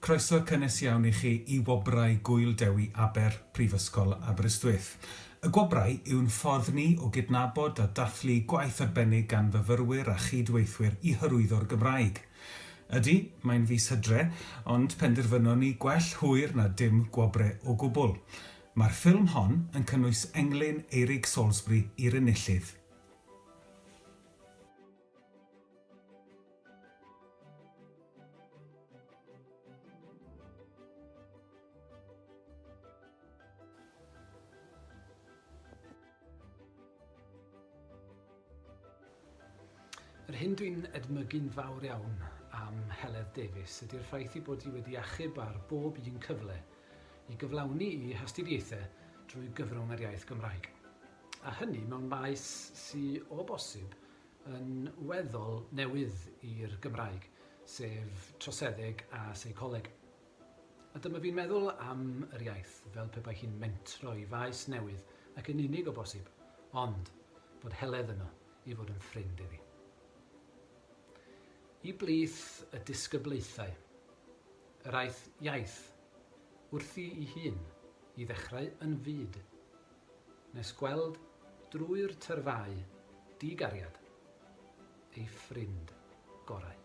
Croeso cynnes iawn i chi i Wobrau Gŵyl Dewi Aber, Prifysgol Aberystwyth. Y Gwobrau yw'n ffordd ni o gydnabod a dathlu gwaith arbennig gan fyfyrwyr a chyd-weithwyr i hyrwyddo'r Gymraeg. Ydy, mae'n fis Hydre, ond penderfynon ni gwell hwyr na dim gwobre o gwbl. Mae'r ffilm hon yn cynnwys englyn Eirig Salisbury i'r enillydd. Yr hyn dw i'n edmygu'n fawr iawn am Heledd Davies ydy'r ffaith ei bod hi wedi achub ar bob un cyfle i gyflawni i hastudiaethau drwy gyfrwng yr iaith Gymraeg. a hynny mewn maes sy o bosib yn weddol newydd i'r Gymraeg, sef troseddeg a seicoleg. A dyma fi'n meddwl am yr iaith fel pe bai hi'n mentro i faes newydd ac yn unig o bosib, ond bod Heledd yno i fod yn ffrind iddi. I blith y disgyblaethau, yr aeth iaith wrthi i hun i ddechrau yn fyd Nes gweld drwy'r tyrfau di-gariad ei ffrind gorau.